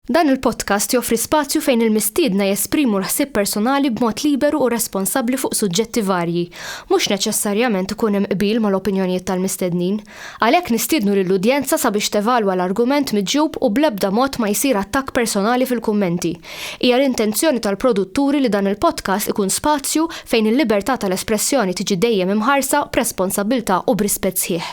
Dan il-podcast joffri spazju fejn il-mistiedna jesprimu l-ħsieb personali b'mod liberu u responsabbli fuq suġġetti varji. Mhux neċessarjament ikun hemm qbil mal-opinjonijiet tal-mistednin. Għalhekk nistiednu lill-udjenza sabiex tevalwa l-argument miġjub u bl-ebda mod ma jsir attakk personali fil-kummenti. Hija l-intenzjoni tal-produtturi li dan il-podcast ikun spazju fejn il-libertà tal-espressjoni tiġi dejjem imħarsa b'responsabbiltà u b'rispett sħiħ.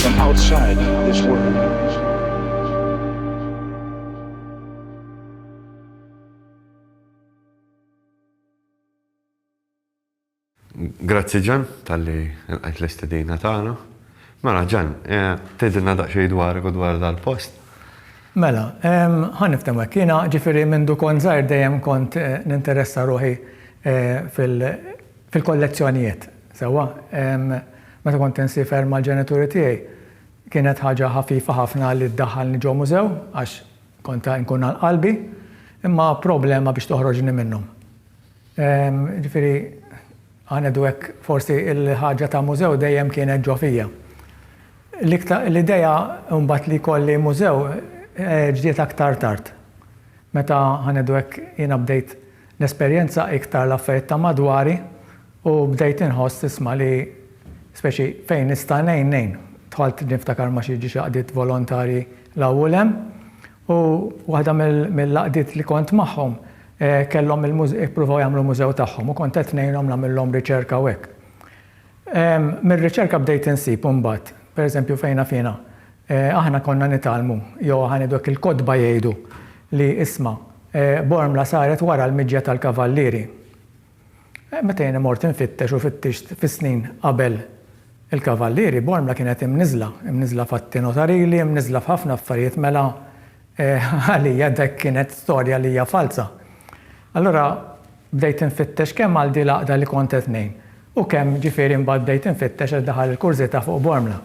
from outside this world. Grazzi ġan, tal-li għajt l-istedina tagħna. Mela ġan, eh, tgħidilna daqsxejn dwar u dwar dal-post. Mela, ħan niftem hekk. Jiena ġifieri minn dukon żgħir dejjem kont eh, ninteressa ruħi eh, fil- Fil-kollezzjonijiet, sewwa. Meta kont insifer mal-ġenituri tiegħi, kienet ħaġa ħafifa ħafna li ddaħħalni ġo mużew għax kont inkun għal qalbi, imma problema biex toħroġni minnhom. Jiġifieri, ħa ngħidu hekk, forsi l-ħaġa ta' mużew dejjem kienet ġo fija. L-idea mbagħad li jkolli mużew ġiet aktar tard. Meta, ħa ngħidu hekk, jiena bdejt Nesperjenza iktar l-affarijiet ta' madwari u bdejt inħoss isma' li speċi fejn nista' ngħin, ngħin. Dħalt niftakar ma' xi ġiex għaqdiet volontarji 'l hawn u 'l hemm u waħda mill-għaqdiet li kont magħhom kellhom ippruvaw jagħmlu mużew tagħhom u kont qed ngħinhom nagħmillhom riċerka u hekk. Mir-riċerka bdejt insib imbagħad, per eżempju fejn naf jiena, aħna konna nitgħallmu jew aħna ngħidu hekk il-kotba jgħidu li isma', Bormla saret wara l-miġja tal-Kavallieri. Meta jiena mort infittex u fittixt fis-snin qabel il-Kavallieri, Bormla kienet imniżżla, imniżżla f'atti notarili, imniżżla f'ħafna affarijiet mela għalija dak kienet storja li hija falza. Allura bdejt infittex kemm għal din l-għaqda li kont qed ngħin u kemm ġifieri mbagħad bdejt infittex għax daħal il-kurżita fuq Bormla.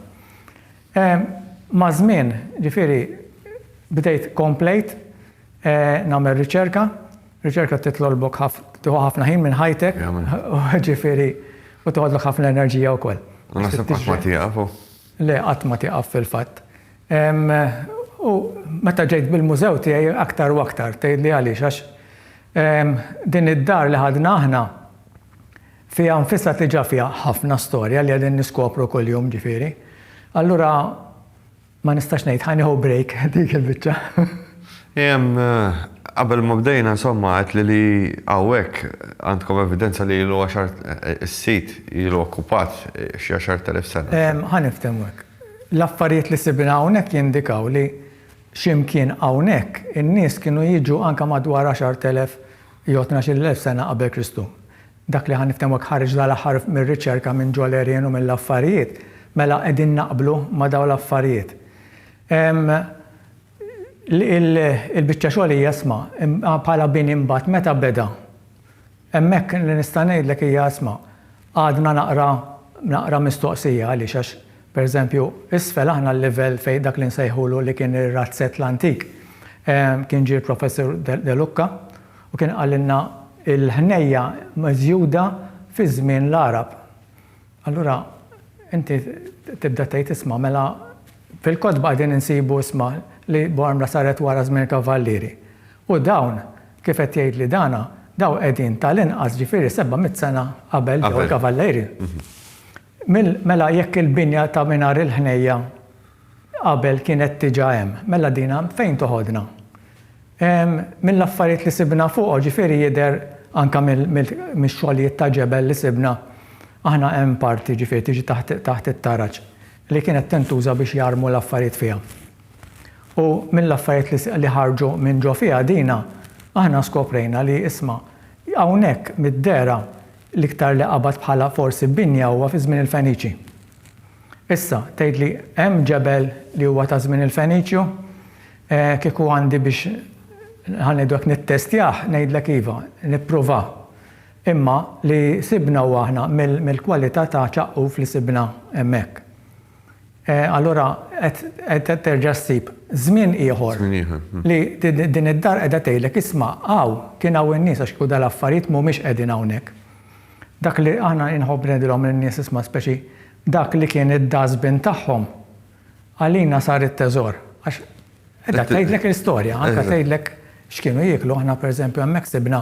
Maż-żmien ġifieri bdejt komplejt, nagħmel riċerka, riċerka titlolbok ħaf, tieħu ħafna ħin minn ħajtek, ġifieri u toħodlok ħafna enerġija wkoll. U naħseb qatt ma tieqaf u. Le, qatt ma tieqaf fil-fatt. U meta ġejt bil-mużew tiegħi aktar u aktar, tgħidli għaliex għax din id-dar li ħadna aħna fiha nfisha diġà fiha ħafna storja li qegħdin niskopru kuljum ġifieri. Allura Ma nistax ngħid, ħa nieħu break dik il-biċċa. Jem, qabel ma bdejna insomma għedt li li hawnhekk għandkom evidenza li ilu għaxar is-sit ilu okkupat xi għaxart elef sena. Ħa niftehmu hekk. L-affarijiet li sibna hawnhekk jindikaw li xi imkien hawnhekk in-nies kienu jiġu anke madwar għaxart elef jew tnax-il elf sena qabel Kristu. dak li ħa niftehmu hekk ħareġ dal-aħħar mir-riċerka minn Joel Arian u mill-affarijiet, mela qegħdin naqblu ma' dawn l-affarijiet. Il-biċċa xogħol hija isma', bħala bini imbagħad meta beda? Hemmhekk li nista' ngħidlek hija isma', għadna naqra naqra mistoqsija għaliex għax pereżempju isfel aħna l-livell fejn dak li nsejħulu li kien ir-razzett l-antik kien ġie l-Professur Delucca, U kien qalilna l-ħnejja miżjuda fi żmien l-Għarab. Allura inti tibda tgħid isma' mela fil-kotba qegħdin insibu isma' li Bormla saret wara żmien il-Kavallieri. U dawn kif qed jgħidli dana dawn qegħdin tal-inqas ġifieri seba' mitt sena qabel ġew il-Kavallieri. Mil, mela jekk il-binja ta' mingħajr il-ħnejja qabel kienet diġà hemm, mela din għand fejn toħodna? Ehm, mill-affarijiet li sibna fuqu, ġifieri jidher anke mil, mil, mix-xogħlijiet ta' ġebel li sibna, aħna hemm parti, ġifieri tiġi taħt, taħt it-taraġ, li kienet tintuża biex jarmu l-affarijiet fiha. U mill-affarijiet li, li ħarġu minn ġo fiha dina, aħna skoprejna li, isma', hawnhekk mid-dehra L-iktar li qabad bħala forsi binja huwa fi żmien il-Feniċi. Issa, tgħidli hemm ġebel li huwa ta' żmien il-Feniċju? Kieku għandi biex ħa ngħidu hekk nittestjah, ngħidlek iva, nipprova. Imma li sibna huwa aħna mill-kwalità ta' ċaqquf li sibna hemmhekk. Allura qed terġa' ssib żmien ieħor. Żmien ieħor. Li din id-dar qiegħda tgħidlek, isma', hawn, kien hawn in-nies għax kieku dal-affarijiet m'humiex qegħdin hawnhekk. Dak li aħna inħobb ngħidilhom lin-nies isma' speċi dak li kien id-dustbin tagħhom għalina sar it-teżor għax Qiegħda tgħidlek l-istorja, anke tgħidlek x'kienu jieklu. Aħna pereżempju hemmhekk sibna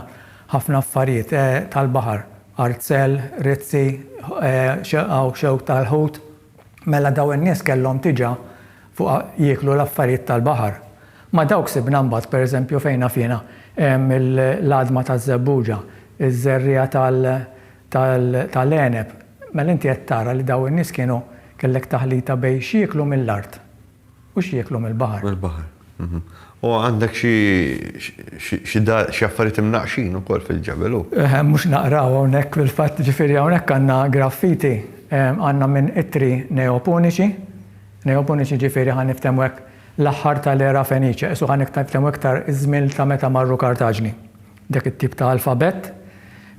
ħafna affarijiet tal-baħar, arzel, rizzi, xewk xewk tal-ħut. Mela dawn in-nies kellhom diġà fuq jieklu l-affarijiet tal-baħar. Ma' dawk sibna mbagħad pereżempju fejn naf jiena l-għadma taż-żebbuġa, iż-żerriegħa tal-għeneb. Mela inti qed tara li dawn in-nies kienu kellek taħlita bejn x'jieklu mill-art. U x'jieklu mill-baħar. Mill-baħar. U għandek xi xi dar xi affarijiet imnaqqxin ukoll fil-ġebel hu. Eħe, mhux naqraw hawnhekk fil-fatt, ġifieri hawnhekk għandna graffiti, għandna minn ittri Neopuniċi, Neopuniċi ġifieri ħa niftehmu hekk l-aħħar tal-era Feniċja, qisu ħa niftehmu iktar iż-żmien ta' meta marru Kartaġni. Dak it-tip ta' alfabett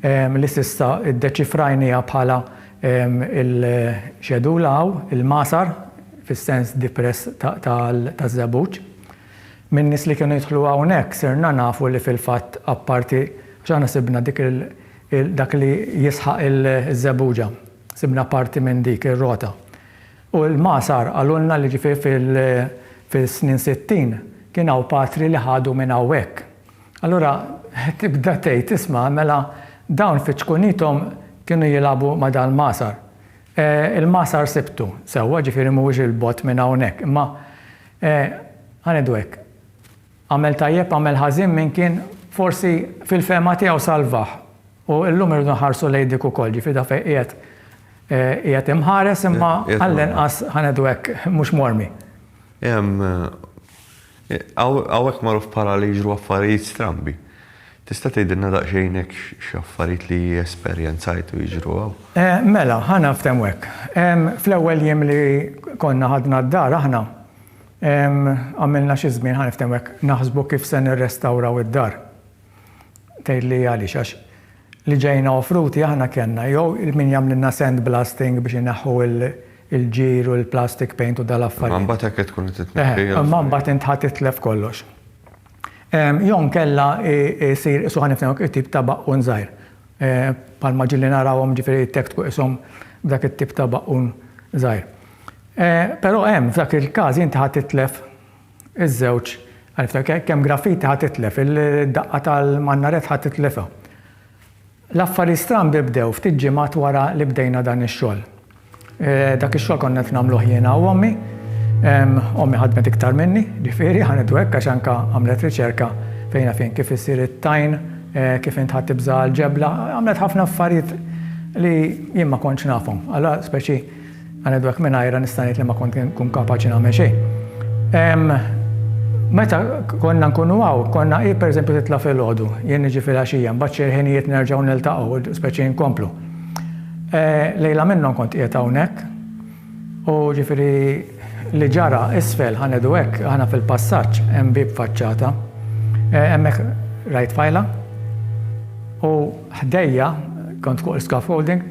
li s'issa ddeċifrajniha bħala l-Xedula hawn, il-Masar, fis-sens depress taż-żebbuġ. Min-nies li kienu jidħlu hawnhekk sirna nafu li fil-fatt apparti, għax aħna sibna dik il, dak li jisħaq iż-żebbuġa, sibna parti minn dik ir-rota. U l-Masar qalulna li ġifieri fis-snin sittin kien hawn patri li ħadu minn hawn hekk. Allura tibda tgħid, isma', mela dawn fi ċkunithom kienu jilagħbu ma' dal-magħsar. Il-magħsar sibtu, sewwa, ġifieri mhuwiex 'il bogħod minn hawnhekk, imma, ħa ngħidu hekk, għamel tajjeb, għamel ħażin min kien forsi fil-fehma tiegħu salvah. U llum irridu nħarsu lejn dik ukoll, ġifieri dak fejn qiegħed qiegħed imħares imma għall-inqas, ħa ngħidu hekk, mhux mormi. Hawnhekk magħruf bħala li jiġru affarijiet strambi. Tista' tgħidilna daqsxejn hekk x'affarijiet li esperjenzajtu jiġru hawn? Mela, ħa naftehmu hekk. Fl-ewwel jiem li konna ħadna d-dar aħna, għamilna xi żmien, ħa niftehmu hekk, naħsbu kif se nirrestawraw id-dar. Tgħidli għaliex, għax li ġejna offruti aħna kellna jew il-min jagħmlilna sand blasting biex ineħħu l-ġir u l-plastic paint u dal-affarijiet. Imma mbagħad hekk qed tkun qed itneħħi l-affarijiet. Imma mbagħad int ħa titlef kollox. Jew inkella jsir qisu ħa nifhmek it-tip ta' baqqun żgħir. Bħalma ġieli narawhom ġifieri jtektku qishom b'dak it-tip ta' baqqun żgħir. Però hemm f'dak il-każ inti ħa titlef Iż-żewġ, għarifta ke, kemm graffiti ħa titlef, il-daqqa tal-mannaret ħa titlifha. L-affarijiet strambi bdew ftit ġimgħat wara li bdejna dan ix-xogħol. Dak ix-xogħol konna qed nagħmluh jiena u ommi. Ommi ħadmet iktar minni, ġifieri ħa ngħidu hekk għax anke għamlet riċerka fejn af jien kif isir it-tajn, kif intħatt tibża' l-ġebla, għamlet ħafna affarijiet li jien ma kontx nafhom. Allura speċi Anedwek mingħajrha nista' ngħid li ma kont inkun kapaċi nagħmel xejn. Meta konna nkunu hawn, konna hi pereżempju titla' filgħodu, jien niġi filgħaxija, mbagħad xi ħinijiet nerġgħu niltaqgħu, speċi nkomplu. Lejla minnhom kont qiegħed hawnhekk u ġifieri li ġara isfel, ħa ngħidu hekk, aħna fil-passaġġ hemm bieb faċċata, hemmhekk rajt fajla u Ħdejja, kont fuq l-scaffolding,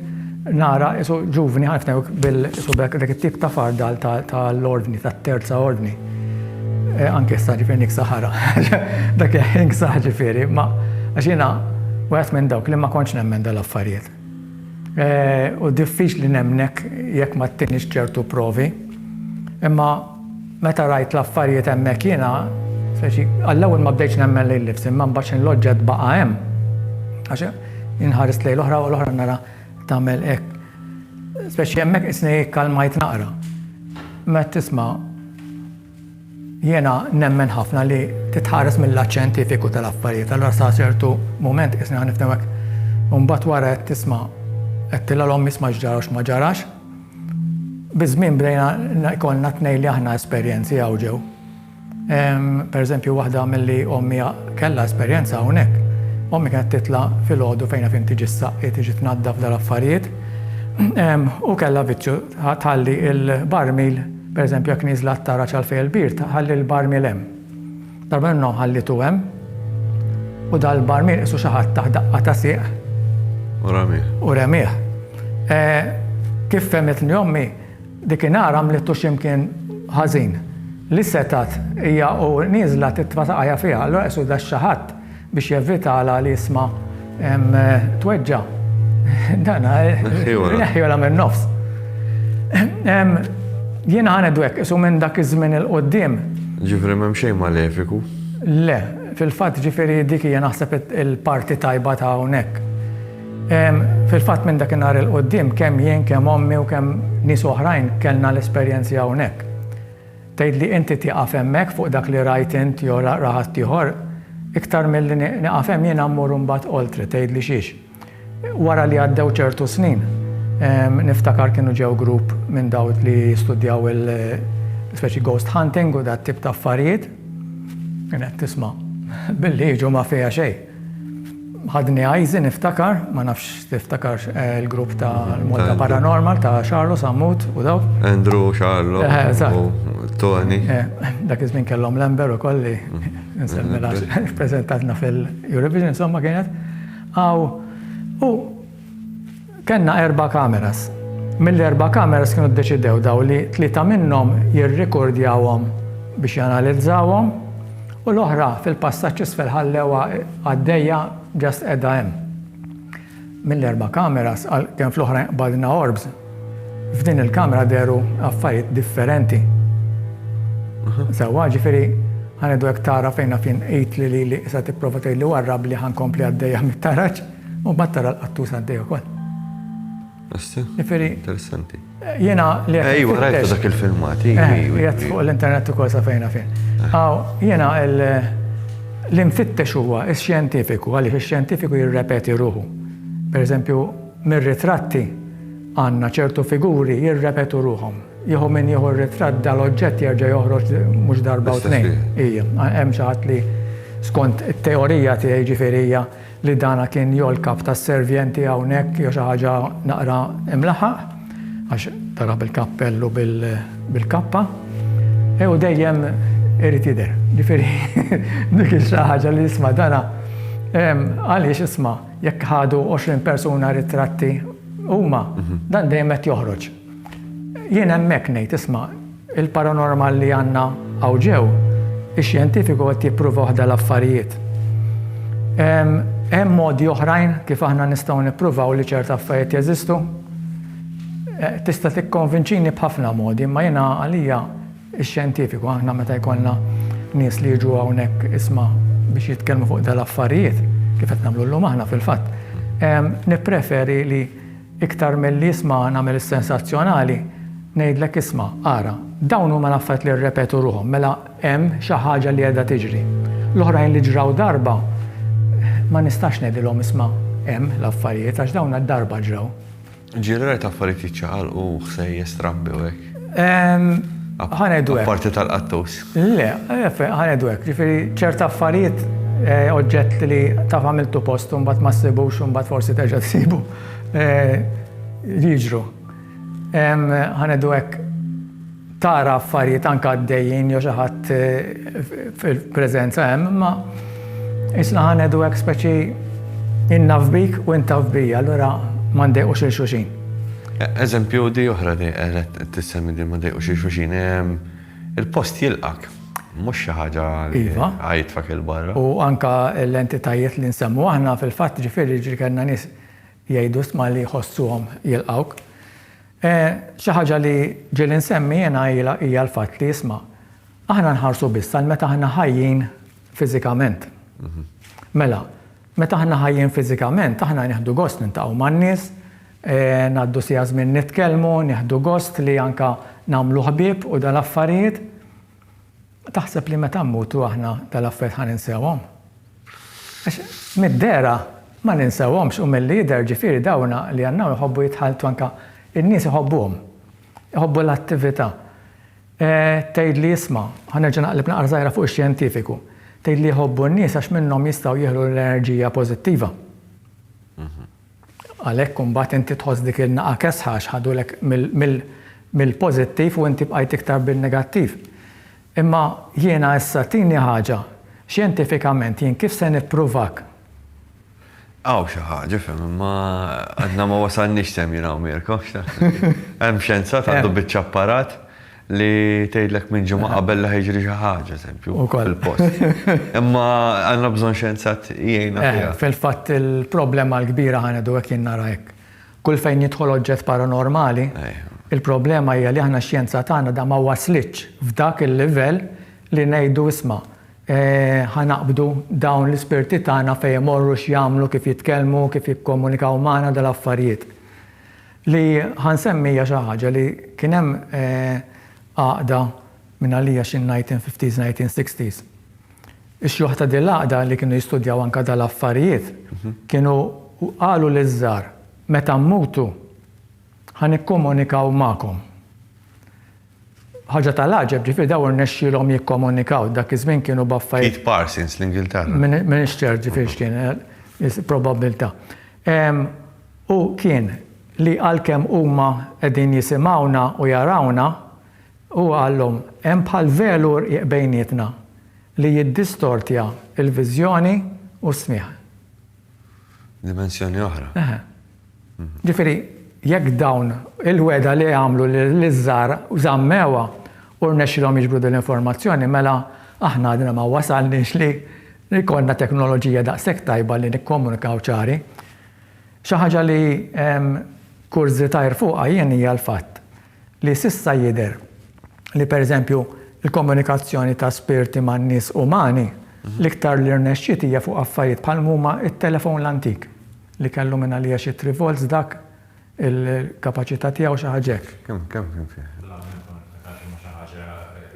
nara qisu ġuvni ħafna qisu b'hekk dak it-tip ta' fardal tal-Ordni, tat-Terza Ordni. Anke issa ġifieri niksa ħara. Dak il-ħin ksaħ ġifieri, ma għax jiena wieħed minn dawk li ma kontx nemmen dal-affarijiet. U diffiċli nemmnek jekk ma ttinix ċertu provi. Imma. Meta rajt l-affarijiet hemmhekk jiena, speċi, għall-ewwel ma bdejtx nemmen lil nifsi, imma mbagħad x'inhu l-oġġett baqa' hemm. Għax inħares lejn l-oħra u l-oħra nara tagħmel hekk. Speċi hemmhekk isni kkalmajt naqra. Meta tisma' jiena nemmen ħafna li titħares mill-lat xjentifiku tal-affarijiet, allura sa ċertu mument isni ħa nifhem hekk. U mbagħad wara qed tisma' qed tilha l-omm isma' x'ġara u x'ma ġarax. Biż-żmien bdejna jkollna t-tnejn li aħna esperjenzi hawn ġew. Pereżempju waħda milli ommi kellha esperjenza hawnhekk, ommi kienet titla' filgħodu fejn naf int tiġi ssaqi, tiġi tnaddaf dal-affarijiet, u kellha viċċju tħalli l-barmil, pereżempju jekk nieżla t-taraġ għal fejn il-bir, tħalli l-barmil hemm. Tabernaw ħallitu hemm, u dal-barmiel qisu xi ħadd taħt daqqa ta' sieq. U ramih. U ramih. E, kif fehmitni ommi, dik inhar għamlitu x'imkien ħażin. Li setat hija u nieżla titfa' saqajja fiha, allura qisu da xi ħadd Biex jevitalha li jisma' tweġġa'. Dana. Neħħiħola minn nofs. Jien ħanet dwek, isu minn dak iż-żmien il-qoddim. Ġifri m'hemm xejn malefiku? Le, fil-fatt ġifiri dik hija naħseb il-parti tajba ta' hawnhekk. Fil-fatt minn dak in-nhar il-qoddim kemm jien kemm ommi u kemm nies oħrajn kellna l-esperjenzi hawnhekk. Tgħid li inti tieqaf hemmhekk fuq dak li rajt int jew ra ħaddieħor, iktar milli nieqaf hemm jiena mmur imbagħad oltre, tgħidli xiex. Wara li għaddew ċertu snin, niftakar kienu ġew grupp minn dawk li jistudjaw il, speċi ghost hunting u dat-tip ta' affarijiet, kien qed tisma' billi jiġu ma' fiha xejn. Ħadni għajzi niftakar, ma nafx tiftakarx eh, il-grupp ta' Malta Paranormal ta' Xarlo, Sammut u daw. Andrew, Xarlo, eh, Tony. Eh, dak iż-żmien kellhom Lember u kolli mm-hmm. nsemmela prezentatna fil-Eurovision, insomma kienet. Aw, u Kellna erba' kameras. Mill-erba' kameras kienu ddeċidew dawn li tlieta minnhom jirrikordjawhom biex janalizzawhom u l-oħra fil-passaġġ isfel ħallewha għaddejja just qiegħda hemm. Mill-erba' kameras għal kemm fl-oħrajn qbadna orbs, f'din il-kamera dehru affarijiet differenti. Sewwa, ġifieri ħa ngħidu hekk tara fejna fin qidtli lili issa tipprova tgħidli warrabli ħa nkompli għaddejja mit-taraġ. U mbagħad tara l-qattus għaddej ukoll. Asti? Ġifieri. Interessanti. Jiena li qed. Ejwa, rajt dak il-filmati. Jgħid fuq l-internet ukoll sa fejna fejn. Aw, jiena l-imfittex huwa x-xjentifiku, għaliex ix-xjentifiku jirrepeti ruħu. Per eżempju, mir-ritratti għandna ċertu figuri jirrepetu ruħhom. Jieħu minn jieħu r-ritratt dal-oġġett jerġa' joħroġ mhux darba u tnejn. Ija, hemm xi ħadd li skont it-teorija tiegħi ġifieri li dana kien jew l-kap tas-servjenti hawnhekk jew xi ħaġa naqra imlaħaq, għax tara bil-kappell u bil-kappa, u dejjem irid jidher. Ġifieri dik hi xi ħaġa li isma' dana għaliex isma' jekk ħadu 20 persuna ritratti huma, dan dejjem qed joħroġ. Jien hemmhekk ngħid isma' Il-paranormal li għandna hawn ġew, ix-xjentifiku qed jipprova waħda l-affarijiet. Hemm modi oħrajn kif aħna nistgħu nippruvaw li ċerta affarijiet jeżistu. Tista' tikkonvinċini b'ħafna modi, imma jiena għalija x-xjentifiku, aħna meta jkollna nies li jiġu hawnhekk isma' biex jitkellmu fuq dal-affarijiet, kif qed nagħmlu llum aħna fil-fatt, nippreferi li Iktar milli isma' nagħmel is-sensazzjonali, ngħidlek isma', ara, dawn huma l-affarijiet li rrepetu ruħhom, mela hemm xi ħaġa li qiegħda tiġri. L-oħrajn li ġraw darba, ma nistax ngħidilhom isma' hemm l-affarijiet għax dawn darba ġraw. Ġieli rajt affarijiet jiċċaqalqu, ħsejjes trabbi u hekk. Ħa ngħidu hekk. Apparti tal-qattus. Le, ħa ngħidu hekk, jiġifieri ċerti affarijiet, oġġetti li taf għamiltu post u mbagħad ma ssibux u mbagħad forsi terġa' ssibu. li jiġru. Ħanedu hekk tara affarijiet anke għaddejjin jew xi ħadd fil-preżenza hemm, imma isna ħanedu hekk speċi jien naf bik u int taf bija, allura ma ndejqux lil xulxin. Eżempju di oħra li qed tissemmi li ma ndejqux lil xulxin. Il-post jilqgħek, mhux xi ħaġa li tgħajjitfek 'il barra. U anke l-entitajiet li nsemmu aħna fil-fatt ġifieri jiġri kellna nies jgħidu stma li jħossuhom jilqgħuk. Xi ħaġa li ġieli nsemmi jiena hija l-fatt li isma', aħna nħarsu biss għal meta aħna ħajjin fiżikament. Mela, Meta aħna ħajjin fiżikament, aħna nieħdu gost niltaqgħu man-nies, ngħaddu siegħa żmien nitkellmu, nieħdu gost li anke nagħmlu ħbieb u dal-affarijiet. Taħseb li meta mmutu aħna dal-affarijiet ħa ninsewhom? Għax mid-dehra ma ninsewhomx u milli jidher ġifieri dawn li għandna hawn iħobbu jitħalltu anke n-nies iħobbuhom, iħobbu l-attività. Tgħidli isma', ħa nerġa' naqleb naqra żgħira fuq ix-xjentifiku. Tgħidli jħobbu n-nies għax minnhom jistgħu jieħdu l-enerġija pożittiva. Għalhekk imbagħad inti tħoss dik il-naqa' kesħa għax ħadulek mill-pożittiv u inti bqajt iktar bin-negattiv. Imma jiena issa tini ħaġa, xjentifikament jien kif se nippruvak? Hawn xi ħaġa, fhem, imma għadna ma wasalniex f'hemm jien hawn Mirko, x'taħseb? Hemm xjenzat għandu biċċa apparat li tgħidlek minn ġimgħa qabel li ħa jiġri xi ħaġa, eżempju, fil-post. Imma għandna bżonn xjenzat jgħinna fiha. Fil-fatt il-problema l-kbira ħa ngħidu hekk jien nara hekk. Kull fejn jidħol oġġett paranormali, il-problema hija li aħna x-xjenza tagħna da ma waslitx f'dak il-livell li ngħidu isma', Ħa naqbdu dawn l-ispirti tagħna fejn imorru, x'jagħmlu, kif jitkellmu, kif jikkomunikaw magħna dal-affarijiet. Li ħa nsemmi hija xi ħaġa li kien hemm għaqda minn għalija xi nineteen fifties, nineteen sixties. Ix-xjuħ ta' din l-għaqda li kienu jistudjaw anke dal-affarijiet kienu qalu liż-żgħar, meta mmutu ħa nikkomunikaw magħkom. Ħaġa tal-għaġeb, ġifieri dawn irnexxielhom jikkomunikaw, dak iż-żmien kienu b'affarijiet. Keith Parsons, l-Ingilterra. M'iniex ċert ġifieri x'kien, probabbiltà. U kien li għalkemm huma qegħdin jisimgħuna u jarawna, huwa qalhom, hemm bħal velu rqiq bejnietna li jiddistortja l-viżjoni u s-smigħ. Dimensjoni oħra. Eħe. Ġifieri, jekk dawn il-wegħda li għamlu liż-żgħar żammewha u rnexxielhom jiġbru din l-informazzjoni, mela aħna għadna ma wasalniex li jkollna teknoloġija daqshekk tajba li nikkomunikaw ċari. Xi ħaġa li kurżitajr fuqha jien hija l-fatt li s'issa jidher li pereżempju l-komunikazzjoni ta' spirti man-nies umani, l-iktar li rnexxiet hija fuq affarijiet bħal m'huma t-telefon l-antik, li kellu mingħalija xi three volts dak il-kapaċità tiegħu xi ħaġa hekk. Kemm kien fih?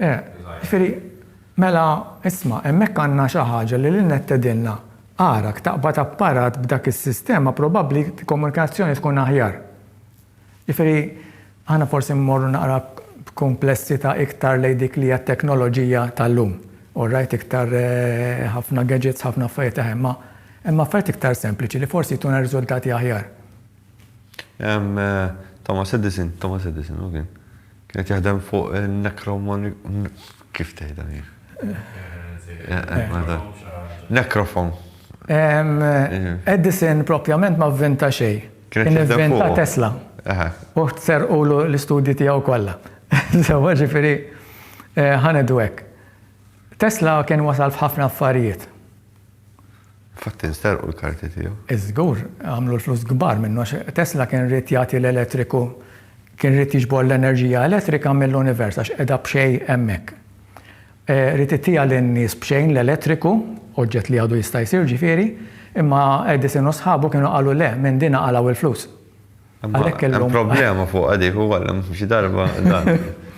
Jiġifieri, mela isma' hemmhekk għandna xi ħaġa li l-Internet tgħidilna, ara jekk taqbad apparat b'dak is-sistema probabbli l-komunikazzjoni tkun aħjar. Jiġifieri aħna forsi mmorru naqra b'kumplessità iktar lejn dik li hija t-teknoloġija tal-lum. Orajt iktar ħafna gadgets, ħafna affarijiet aħjar, imma hemm affarijiet iktar sempliċi li forsi jtuna riżultati aħjar. Thomas Edison, Thomas Edison hu kien? Kien qed jaħdem fuq in-necromoni, kif tgħidha hi? Necrophone. Necrophone. Edison propjament ma vvinta xejn. Kien ivventa Tesla. U serqulu l-istudji tiegħu kollha. Sewwa ġifieri ħa ngħidu hekk. Tesla kien wasal f'ħafna affarijiet. Infatti nsterqu l-karti tiegħu. Iż-żgur, għamlu l-flus kbar minnu għax Tesla kien ried jagħti l-elettriku, kien ried jiġbor l-enerġija elettrika mill-univers għax qiegħda b'xejn hemmhekk. Rid ittiha lin-nies b'xejn l-elettriku, oġġett li għadu jista' jsir, ġifieri, imma Edison u sħabu kienu qalu le, minn din għaqalgħu l-flus. Għalhekk illum. Hemm problema fuqha dik u għalhom xi darba dan.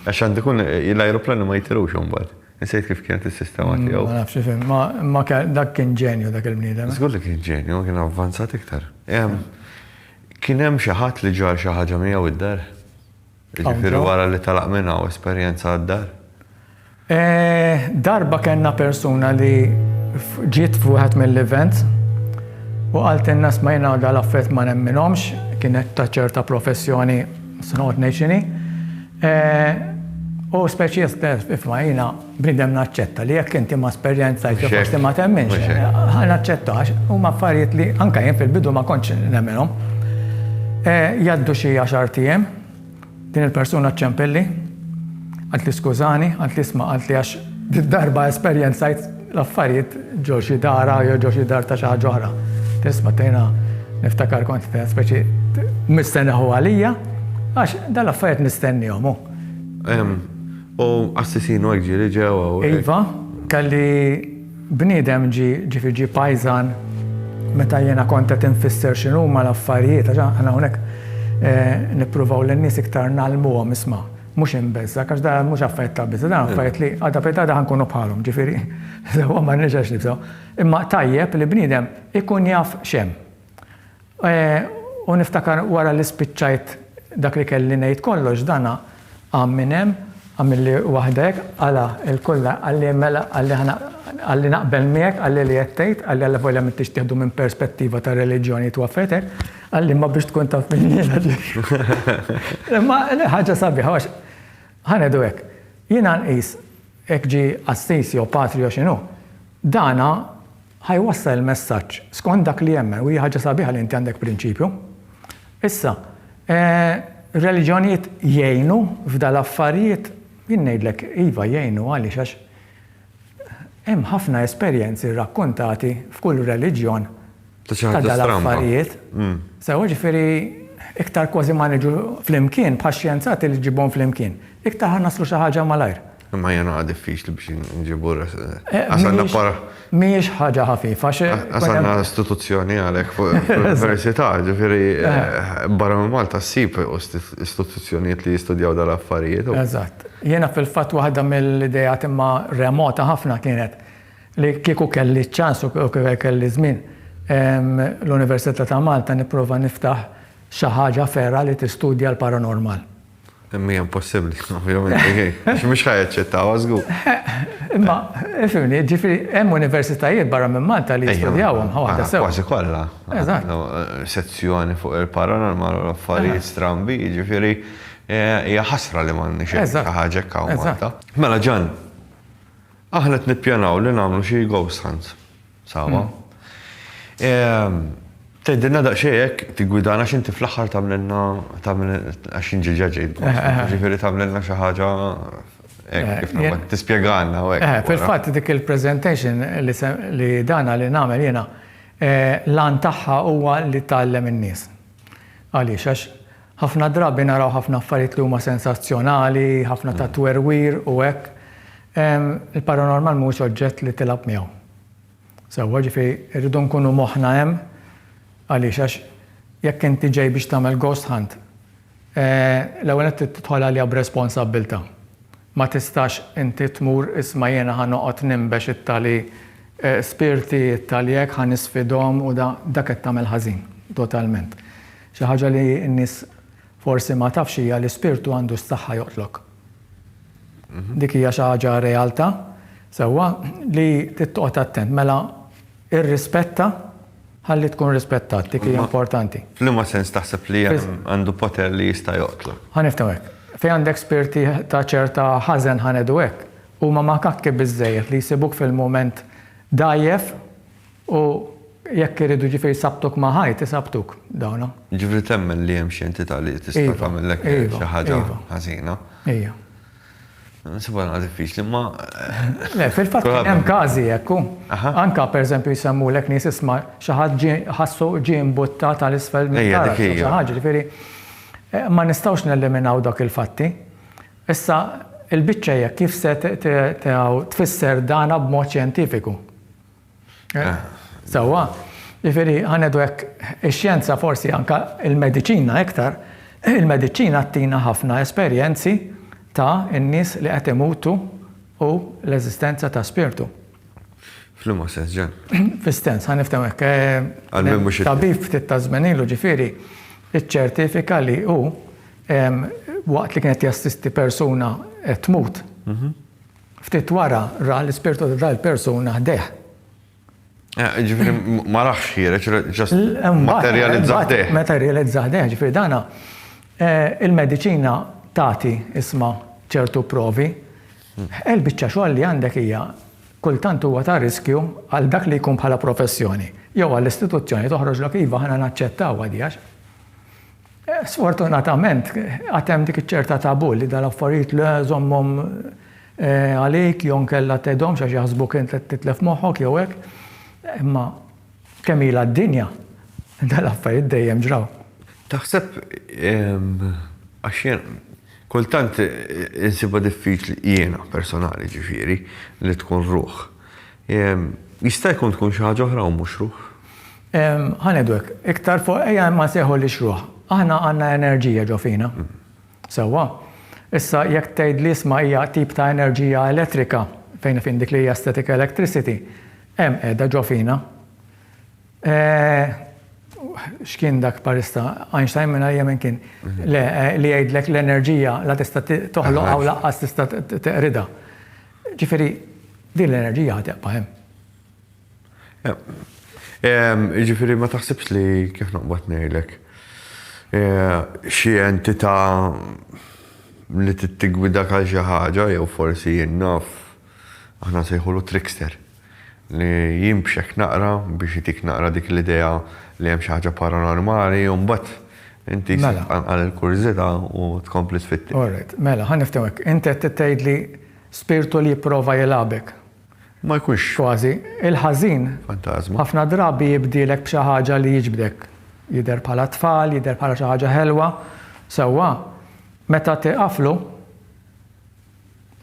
Għax għandu jkun l-ajruplani ma jitilgħux imbagħad. Insejt kif kienet is-sistema tiegħu. Ma nafx ifhem, imma dak kien ġenju dak il-bniedem. Żgur li kien ġenju, imma kien avvanzat iktar. Kien hemm xi ħadd li ġar xi ħaġa miegħu d-dar? Jiġifieri wara li telaq minn hawn esperjenza għad-dar? Eh, darba kellna persuna li ġiet f'wieħed mill-events u qaltilna sma' jiena dal affett ma nemminhomx, kienet ta' ċerta professjoni se noqgħod ngħid x'inhi. Eh, u speċi jistess ifma jiena Bniedem naċċetta li jekk inti ma sperjenzajtx jew forsi ma temminx. Mhux hekk. Ħa naċċetta għax huma affarijiet li anke jien fil-bidu ma kontx nemminhom. Jgħaddu xi għaxart ijiem, din il-persuna ċċempilli, qaltli skużani, qaltli isma' qaltli għax did-darba esperjenzajt l-affarijiet ġo xi dara jew ġo xi dar ta' xi ħaġa oħra. Tisma' tgħinha niftakar kont qed speċi mistenneħu għalija għax dal-affarijiet nistennihom hu. U qassisin u hekk ġieli ġew hawn. Iva, kelli bniedem ġie, ġifieri ġie pajżan meta jiena kont qed infisser x'inhuma l-affarijiet għax aħna hawnhekk nippruvaw lin-nies iktar ngħallmuhom isma', mhux imbeżżgħek għax dan mhux affarijiet ta' biża', dan affarijiet li għada fejn għada ħa nkunu bħalhom, ġifieri sewwa m'għandniex għax nibżgħu. Imma tajjeb li bniedem ikun jaf x'hemm. U niftakar wara li spiċċajt dak li kelli ngħid kollox, dan qam minn hemm, għamilli waħda hekk, qala' il-kull, qalli mela, qalli ħa, qalli naqbel miegħek, qalli li qed tgħid, qalli allavolja m'intix tieħdu minn perspettiva ta' reliġjoni twaffetek, qalli imma biex tkun taf min jiena ġifieri. Imma ħaġa sabiħa għax ħa ngħidu hekk, jiena nqis hekk ġie qassis jew patri jew x'inhu, dan Ħa jwassal il-messaġġ skont dak li jemmen u hija ħaġa sabiħa li inti għandek prinċipju. Issa, ir-reliġjonijiet jgħinu f'dan l-affarijiet? Jien ngħidlek iva jgħinu għaliex għax hemm ħafna esperjenzi rrakkuntati f'kull reliġjon ta' dan l-affarijiet. Sewa ġifieri iktar kważi ma niġu flimkien bħax-xjenzati li ġġibhom flimkien, iktar ħa naslu xi ħaġa malajr. Imma hija naqa' diffiċli biex inġibu res. Eh, Għax għandna mhijiex- para. Mhijiex ħaġa ħafifa xe. Għax għandna istituzzjoni għalhekk fuq l-Università, ġifieri eh, barra minn Malta ssib isti- istituzzjonijiet li jistudjaw dal-affarijiet. u- Eżatt. Jiena fil-fatt waħda mill-idejat imma remota ħafna kienet li kieku kelli ċans u kieku kelli żmien em, l-Università ta' Malta nipprova niftaħ xi ħaġa ferra li tistudja l-paranormal. Imma impossibbli, ovvjament, għax mhux ħajaċċettaw għażgu. Imma, fimni, ġifieri hemm universitajiet barra minn Malta li jistudjawhom ħawaħda sew. Kważi kollha. Eżatt. Sezzjoni fuq il-paranormal u l-affarijiet strambi, ġifieri hija ħasra li m'għandniex xi ħaġa hekk hawn Malta. Mela Ġan, aħna qed nippjanaw li nagħmlu xi ghost hunts. Sawa. Tgħidilna daqsxejn hekk tiggwidana x'inti fl-aħħar tagħmlilna għax jien ġiġa ġejt. Ġifieri tagħmlilna xi ħaġa hekk tispjegalna u hekk. Fil-fatt dik il-presentation li dana li nagħmel jiena l-għan tagħha huwa li tgħallem in-nies. Għaliex? Għax Ħafna drabi naraw ħafna affarijiet li huma sensazzjonali, ħafna ta' twerwir u hekk. Il-paranormal mhuwiex oġġett li tilgħab miegħu. Sewwa, ġifieri rridu nkunu moħħna hemm għaliex għax jekk inti ġej biex tagħmel ghost hunt, l-ewwel nett trid tidħol għaliha b'responsabbiltà. Ma tistax inti tmur, isma' jiena ħa noqgħod ninbex it-tali spirti, it-tali hekk, ħa nisfidhom u da. Dak qed tagħmel ħażin, totalment. Xi ħaġa li n-nies forsi ma tafx hija li spirtu għandu s-saħħa joqtlok. Dik hija xi ħaġa realtà, sewwa, li trid toqgħod attent. Mela irrispetta. Ħalli tkun rispettat, dik hija importanti. F'liema sens taħseb li għandu poter li jista' joqtlok? Ħa nifhmu hekk. Fejn għandek spirti ta' ċerta ħażen ħa ngħidu hekk, huma makakki biżżejjed li jsibuk fil-mument dgħajjef u jekk iridu jiġifieri jsabbtuk ma' ħajt, isabbtuk dawna. Jiġifieri temmen li hemm xi entità li tista' tagħmillek xi ħaġa ħażina? Ejja. Nsibha naqra diffiċli, imma. Le, fil-fatt kien hemm każi hekk hu. Anke pereżempju jsemmulek nies isma' xi ħadd ġie ħassu ġie imbuttat għal isfel mill-karozza jew xi ħaġa, jiġifieri ma nistgħux neliminaw dawk il-fatti. Issa l-biċċa hija kif se tfisser dana b'mod xjentifiku. Sewwa, jiġifieri ħanieħdu hekk, ix-xjenza forsi anke l-mediċina iktar, il-mediċina ttina ħafna esperjenzi ta' n-nies li qed imutu u l-eżistenza ta' spirtu. F'liema sens, Ġan? Fis-sens, ħa niftehmu hekk. Għal min mhux. Tabib ftit ta' żmien ilu ġifieri ċċertifika li hu waqt li kien qed jassisti persuna qed tmut, Ftit wara ra l-ispirtu ta' dak il-persuna ħdejh. Ġifieri ma raħx ħiereġ, just materializza ħdejh. Materializza ħdejh, ġifieri dana il-mediċina tagħti isma' ċertu provi. Il-biċċa xogħol li għandek hija kultant huwa ta' riskju għal dak li jkun bħala professjoni jew għall-istituzzjoni toħroġlok iva aħna naċċettawha di għax Sfortunatament, għad hemm dik iċ-ċerta tabù li dal-affarijiet le, żommhom għalik jew inkella tgħidhomx għax jaħsbuk int qed titlef moħħok jew hekk. Imma kemm ilha d-dinja, dal-affarijiet dejjem ġraw. Taħseb, għax jien kultant insibha diffiċli, jiena personali ġifieri, li tkun ruħ. Jista' jkun tkun xi ħaġa oħra u mhux ruħ? Ħa ngħidu hekk, iktar fuq ejja ma nsejħulhiex ruħ. Aħna għandna enerġija ġo fina. Sewwa? Issa jekk tgħidli isma' hija tip ta' enerġija elettrika, fejn fin dik li hija static electricity, hemm qiegħda ġo fina. X'kien dak parista? Einstein minn ajja minn kien? Le, li jgħidlek l-enerġija la tista' toħloq aw laqqas tista' teqridha. Ġifieri din l-enerġija ħa tibqa' hemm. Jiġifieri ma taħsibx li kif noqbad ngħidlek xi entità li trid tiggwidak għal xi ħaġa jew forsi jien naf aħna nsejħulu trickster li jinbxek naqra biex itik naqra dik l-idea li hemm xi ħaġa paranormali u mbagħad inti jsir tqanqal il-kurżità u tkompli tfittex. Orajt. Mela, ħa niftehmu hekk. Inti qed tgħidli spirtu li jipprova jilgħabek. ma jkunx. Kważi. Il-ħażin. Fantażma. Ħafna drabi jibdielek b'xi ħaġa li jiġbdek. Jidher bħala t-tfal, jidher bħala xi ħaġa ħelwa. Sewwa, meta tieqaflu,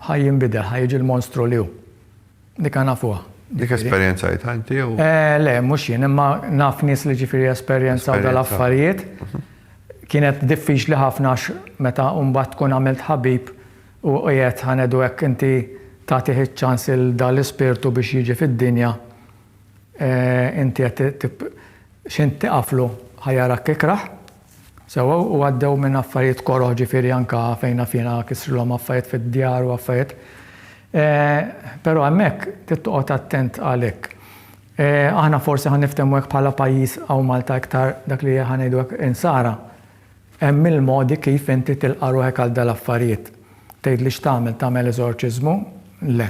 ħa jinbidel, ħa jiġi l-monstru li hu. Dik aħna nafuha. Dik esperjenzajtha inti jew? Le, mhux jien, imma naf nies li ġifieri esperjenzaw dal-affarijiet. Kienet diffiċli ħafna għax meta mbagħad tkun għamilt ħabib, U qiegħed ħanedu hekk inti tagħtih iċ-ċans lil dan l-ispirtu biex jiġi fid-dinja, inti qed tip x'int tiqaflu ħa jarak ikrah. Sewwa u għaddew minn affarijiet koroh ġifieri anke fejn naf jiena kisrilhom affarijiet fid-djar u affarijiet. Però hemmhekk trid toqgħod attent għalik. Aħna forsi ħa niftehmu hekk bħala pajjiż hawn Malta iktar dak li ħa ngħidu hekk insara. Hemm mil modi kif inti tilqa' ruħek għal dal affarijiet. Tgħidli x'tagħmel, tagħmel eżorċiżmu? Le.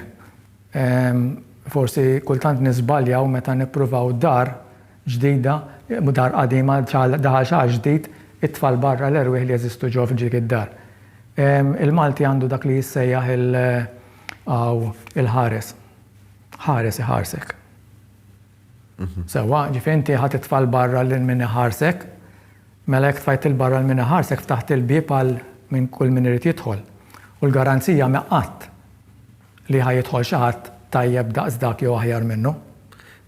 Ehm, forsi kultant niżbaljaw meta nippruvaw dar ġdida, dar qadima daħal xi ħadd ġdid, it-tfal barra l-erwieħ li jeżistu ġewwa f'dik id-dar. Ehm, il-Malti għandu dak li jissejjaħ il, aw, il-ħares. Ħares iħarsek. Sewwa, ġifieri inti ħa titfa' 'l barra lil min iħarsek. Mela jekk tfajt 'il barra 'l min iħarsek ftaħt il-bieb għal minn kull min irid jidħol. U l-garanzija m'hi qatt li ħa jidħol xi ħadd tajjeb daqs dak jew aħjar minnu.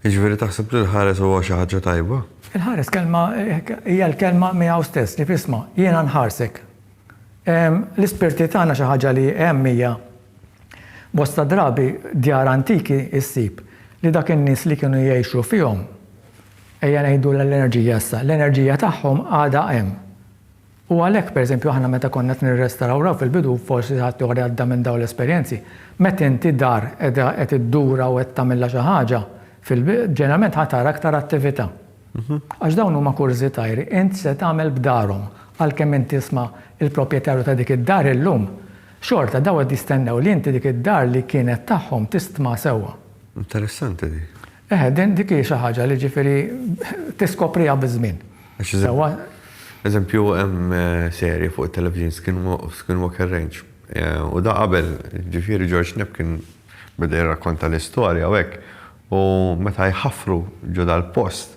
Jiġifieri taħseb li l-ħares huwa xi ħaġa tajba? Il-ħares kelma hija l-kelma miegħu stess, ġifieri isma', jiena nħarsek. L-ispirti tagħna xi ħaġa li hemm hija Bosta drabi djar antiki ssib li dak in-nies li kienu jgħixu fihom, ejja ngħidulha l-enerġija issa, l-enerġija tagħhom għadha hemm. U għalhekk pereżempju aħna meta konna qed nirrestawraw fil-bidu, forsi ħadd ieħor għadda minn dawn l-esperjenzi, meta inti dar qiegħda qed iddurha u qed tagħmilha xi ħaġa fil ġeneralment ħa tara aktar attività. Għax dawn huma kurżitajri, int se tagħmel b'darhom, għalkemm int tisma' l-proprjetarju ta' dik id-dar illum, Xorta dawn qed jistennew li inti dik id-dar li kienet tagħhom tistma sewwa. Interessanti di. Eħe, din dik hi xi ħaġa li ġifieri tiskopriha biż-żmien. Sewwa. Eżempju hemm serje fuq it-television Skinwalker Ranch. U da qabel, ġifieri George Knapp kien beda jirrakkonta l-istorja u hekk, U meta jħaffru ġo dal-post,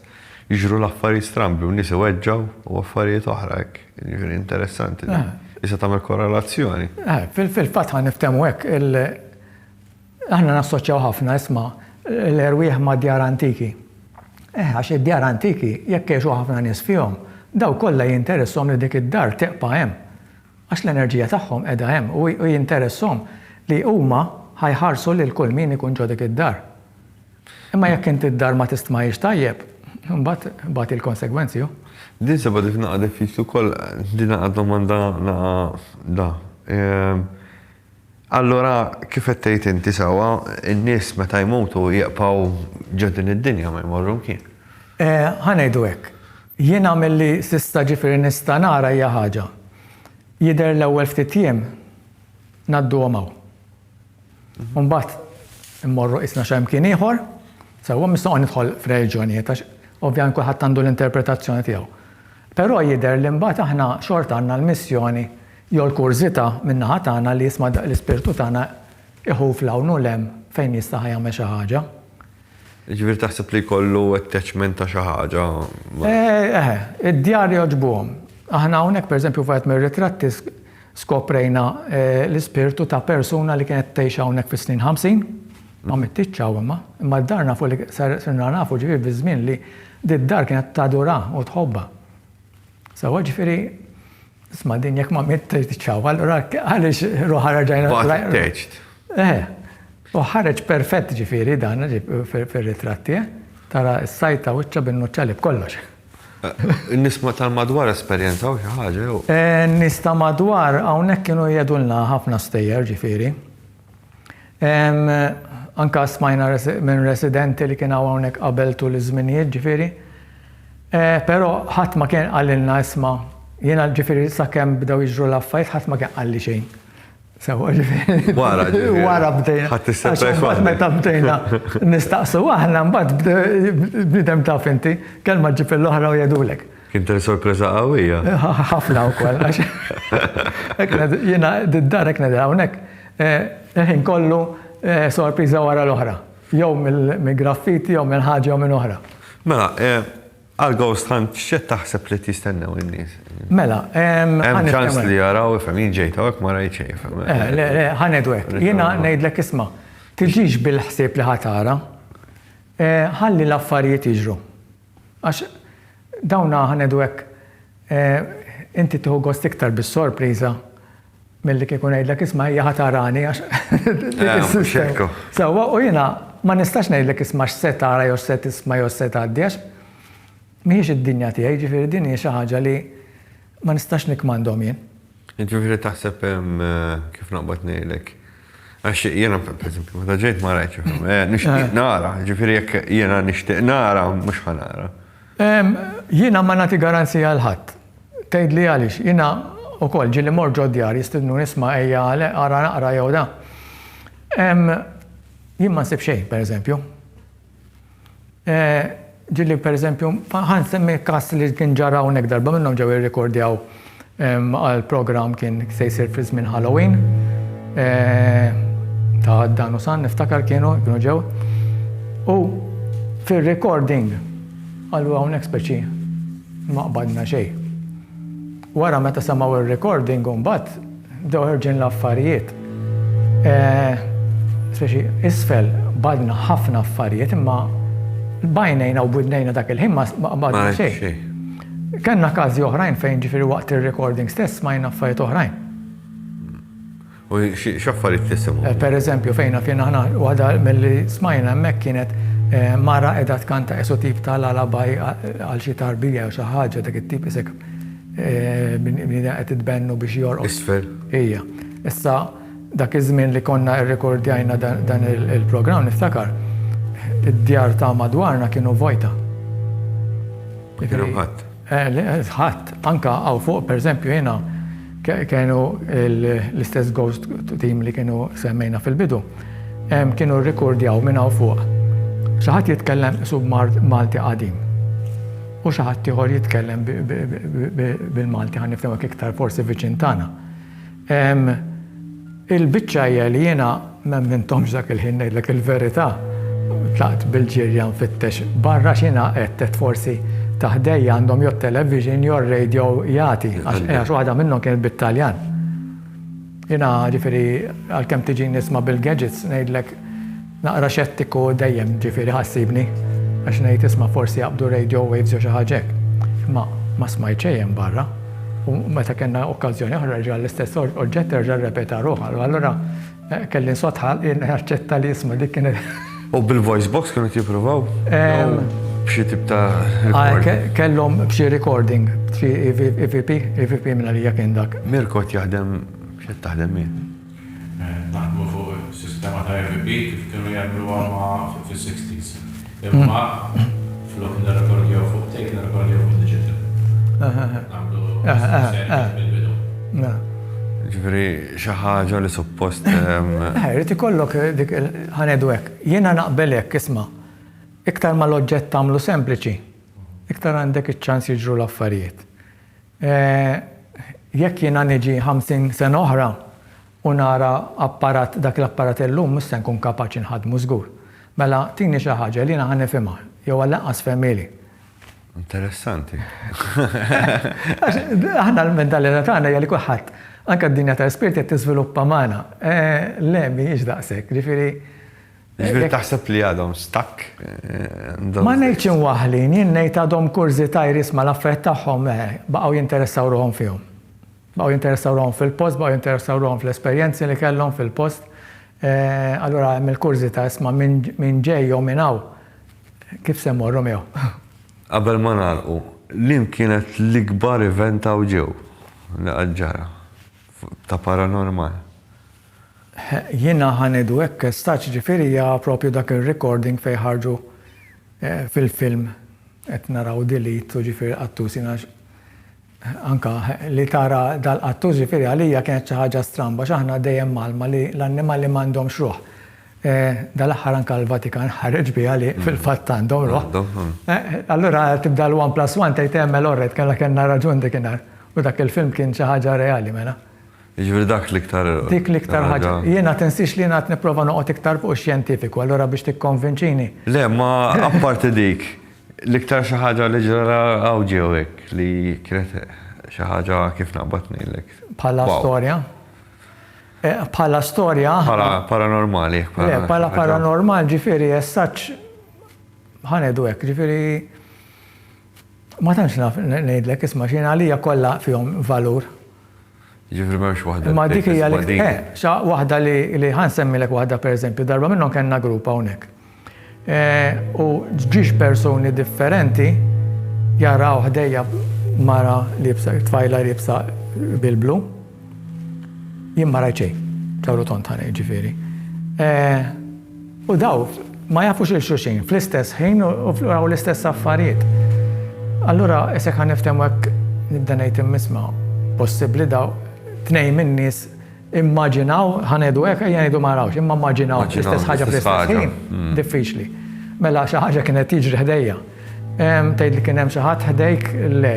jiġru l-affarijiet strambi u nies iweġġgħu u affarijiet oħra hekk. Jiġifieri interessanti din. Tista' tagħmel korrelazzjoni. Fil-fatt ħa niftehmu hekk, aħna nassoċjaw ħafna, isma', l-erwieħ mad-djar antiki. Eh, għax id-djar antiki, jekk jgħixu ħafna nies fihom, dawk kollha jinteresshom li dik id-dar tibqa' hemm. Għax l-enerġija tagħhom qiegħda hemm u jinteressahom li huma ħa jħarsu lil kull min ikun ġo dik id-dar. Imma jekk inti d-dar ma tistmahiex tajjeb, imbagħad bagħti l-konsegwenzi hu. Din sibha dik naqa' diffiċli wkoll, din naqa' domanda naqa' da. Allura, kif qed tgħid inti sewwa, in-nies meta jmutu jieqpaw ġo din id-dinja, ma jmorru mkien. Ħa ngħidu hekk. Jiena milli s'issa ġifieri nista' nara hija ħaġa. Jidher l-ewwel ftit jiem ngħadduhom hawn. U mbagħad immorru qisna xi mkien ieħor. Sewwa, mhux se noqgħod nidħol f'reliġjonijiet għax ovvjament kulħadd għandu l-interpretazzjoni tiegħu. Però jidher li mbagħad aħna xorta għandna l-missjoni Jew il-kurżità min-naħa tagħna li jisma' daqq l-ispirtu tagħna iħuf 'l hawn u 'l hemm fejn jista' ħa jagħmel xi ħaġa. Jiġifieri taħseb li jkollu attachment ta' xi ħaġa ma'. Eħe, id-djar jogħġbuhom. Aħna hawnhekk pereżempju f'wieħed mir-ritratti skoprejna l-ispirtu ta' persuna li kienet tgħix hawnhekk fis-snin ħamsin, ma mittitx hawn imma, imma d-dar nafu li sirna nafu ġifieri fiż-żmien li did-dar kienet tadurha u tħobbha. Sewwa ġifieri isma' din jekk ma mittx titxawwa allura għaliex ruħha reġgħina. Baqgħet attached. Eh. U ħareġ perfett ġifieri dan fir-ritratt tiegħi. Tara s-sajta wiċċha bin-nuċċali b'kollox. In-nies tal-madwar esperjenzaw xi ħaġa jew? In-nies ta' madwar hawnhekk kienu jgħidulna ħafna stejjer ġifieri. Anke smajna minn residenti li kien hawn hawnhekk qabel tul iż-żminijiet ġifieri. Però ħadd ma kien qalilna isma' jiena ġifieri sakemm bdew jiġru l-affarijiet ħadd ma kien qalli xejn. Sewwa ġifieri. Wara ġifieri. Wara bdejna. Ħadt is-surprise waħda. Meta bdejna nistaqsu aħna mbagħad bniedem taf inti, kelma ġġib lill-oħra u jgħidulek. Kien ten sorpresa qawwija. Ħafna wkoll għax jiena d-dar hekk nidher hawnhekk il-ħin kollu sorpriża wara l-oħra. Jew mill-graffiti jew minn ħaġa jew minn oħra. Mela, għal ghost hunt x'qed taħseb li qed jistennew in-nies? Mela, hemm ċans li jaraw ifhem jien ġejt hawnhekk ma rajt xejn ifhem. Le, le, ħa ngħidu hekk. Jiena ngħidlek isma', tiġix bil-ħsieb li ħa tara, ħalli l-affarijiet jiġru. Għax dawna ħa ngħidu hekk, inti tieħu gost iktar bis-sorpriża milli kieku ngħidlek isma' hija ħa tarani għax sewwa u jiena ma nistax ngħidlek isma' x'se tara jew x'se tisma' jew x'se tgħaddi għax mhijiex id-dinja tiegħi, jiġifieri din hi xi ħaġa li ma nistax nikkmandhom jien. Jiġifieri taħseb kif noqbad ngħidlek. Għax jiena pereżempju meta ġejt ma rajtx il-film. Eh, nixtieq nara, jiġifieri jekk jiena nixtieq nara mhux ħa nara. Jiena ma nagħti garanzija għal ħadd. Tgħidli għaliex, jiena wkoll ġieli mort ġo djar jistidnuni isma' ejja ara naqra jew da. Jien ma nsib xejn pereżempju. Ġieli pereżempju, ħa nsemmi każ li kien ġara hawnhekk darba minnhom ġew jirrikordjaw għal programm kien se jsir fi żmien Halloween ta' Dan u San niftakar kienu kienu ġew. U fir-recording qalu hawnhekk speċi ma qbadna xejn. Wara meta semgħu r-recording imbagħad bdew ħerġin l-affarijiet. Speċi isfel badna ħafna affarijiet imma bajnejna u bwidnejna dak il-ħin ma badna xejn. Kellna każi oħrajn fejn ġifieri waqt ir-recording stess smajna affarijiet oħrajn. U x'affarijiet tisimgħu? Per eżempju, fejn għafien aħna, waħda milli smajna hemmhekk kienet mara qiegħda tkanta qisu tip ta' lullaby għal xi tarbija jew xi ħaġa dak it-tip isek bniedem qed itbennu biex jorqod. Isfel. Ija. Issa dak iż-żmien li konna rrekordjajna dan il-programm niftakar id-djar ta' madwarna kienu vojta. Ma kien hemm ħadd. Ħadd, anke hawn fuq pereżempju jiena kienu l-istess ghost team li kienu semmejna fil-bidu, kienu rrikurdjaw minn hawn fuq xi ħadd jitkellem qisu b'Malti qadim u xi ħaddieħor jitkellem bil-Malti ħa niftehmu hekk iktar forsi viċin tagħna. Ehm, il-biċċa hija li jiena m'emminthomx dak il-ħin ngħidlek il-verità. Tlaqt bil-ġirja nfittex barra x'inha qed qed forsi ta' ħdejja għandhom jew television jew radio jagħti għax waħda minnhom kienet bit-Taljan. Jiena ġifieri għalkemm tiġini nisma' bil-gadgets ngħidlek Naqra xettiku dejjem ġifieri iħassibni għax ngħid isma' forsi jaqbdu radio waves jew xi ħaġa hekk. Imma ma smajt xejn hemm barra u meta kellna okkażjoni oħra reġa' l-istess oġġett reġa' rrepeta ruħu u allura kelli nsott ħalqi naċċetta li isma' dik kienet. U bil-voice box kienu qed jippruvaw? Jew b'xi tip ta' recording? Kellhom b'xi recording, b'xi EVP, EVP minn għalija kien dak. Mirko qed jaħdem, x'qed taħdem hi? naħdmu fuq sistema ta' EVP kif kienu jagħmluha ma' fis-sixties. Imma flok nirrekordjaw fuq tape, nirrekordjaw fuq digital. Nagħmlu sejħiet mill-bidu. Ġifieri xi ħaġa li suppost. Irid ikollok dik il-, ħa ngħidu hekk. Jiena naqbel hekk, isma'. Iktar ma l-oġġett tagħmlu sempliċi, iktar għandek iċ-ċans jiġru l-affarijiet. Eeh, jekk jiena niġi ħamsin sena oħra u nara apparat, dak l-apparat illum mhux se nkun kapaċi nħaddmu żgur. Mela tini xi ħaġa li jiena ħa nifhimha, jew għall-anqas fehmieli. Interessanti. Għax aħna l-mentalità tagħna hija li kulħadd, anke d-dinja tal-ispirt qed tiżviluppa magħna. Eeh, le, mhijiex daqshekk. Jiġifieri, Ġifieri taħseb li għadhom stuck? Ma ngħidx imwaħħlin, jien ngħid għadhom kurżitajr isma' l-affarijiet tagħhom baqgħu jinteressaw ruħhom fihom. Baqgħu jinteressaw ruħhom fil-post, baqgħu jinteressaw ruħhom fl-esperjenzi li kellhom fil-post. Allura hemm il-kurżità isma' min ġej jew min hawn, kif se mmorru miegħu. Qabel ma nagħlqu, liem kienet l-ikbar event hawn ġew li qatt ġara ta' paranormal? Jiena ħa ngħidu hekk estaċ jiġifieri hija propju dak ir-recording fejn ħarġu fil-film qed naraw delete u ġifieri qattus jiena anke li tara dal-qattus ġifieri għalija kienet xi ħaġa stramba għax aħna dejjem mgħallma li l-annimali m'għandhomx ruħ. Dal-aħħar anke l-Vatikan ħareġ biha li fil-fatt għandhom ruħ. Allura tibda l-one plus one tgħid eh mela orrejt kellha kellna raġun dikinhar u dak il-film kien xi ħaġa reali mela. Jiġifieri dak l-iktar. Dik l-iktar ħaġa. Jiena tinsiex li jiena qed nipprova noqgħod iktar fuq ix-xjentifiku, allura biex tikkonvinċini. Le, ma apparti dik, l-iktar xi ħaġa li ġara hawn ġew hekk li kienet xi ħaġa kif naqbad ngħidlek. Bħala storja? Bħala storja. Bħala paranormali. Le, bħala paranormal ġifieri essaċ ħa ngħidu hekk, ġifieri. Ma tantx naf ngħidlek, isma' x'jien għalija kollha fihom valur. Jiġifieri m'hemmx waħda. Imma dik hija li eh, xa waħda li ħa nsemmilek waħda pereżempju, darba minnhom kellna grupp hawnhekk. Eh, u ġiex persuni differenti jaraw ħdejja mara libsa, tfajla libsa bil-blu. Jien ma rajt xejn, ċawru tont ħa jiġifieri. U daw ma jafux lil xulxin fl-istess ħin u raw l-istess affarijiet. Allura isek ħa niftehmu hekk nibda ngħid immiss ma possibbli daw tnejn min-nies immaġinaw ħa ngħidu hekk ejja ngħidu ma rawx, imma mmaġinaw l-istess ħaġa fl-istess ħin diffiċli. Mela xi ħaġa kienet tiġri ħdejja. Tgħid li kien hemm xi ħadd ħdejk? Le,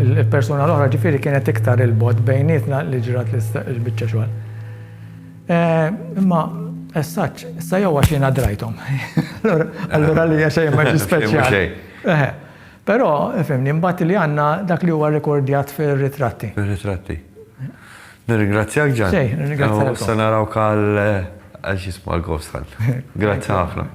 il-persuna l-oħra ġifieri kienet iktar 'il bogħod bejnietna li ġrat l-biċċa xogħol. Imma essaċ, issa jew għax jiena drajthom. Allura li hija xejn ma ġie speċjali. Però, fhimni, imbagħad li għandna dak li huwa rrekordjat fir-ritratti. Fir-ritratti. Nirringrazzjak Ġan. Xejn, nirringrazzjak. Issa narawk għal xi jismu għall-ghost hunt. Grazzi ħafna.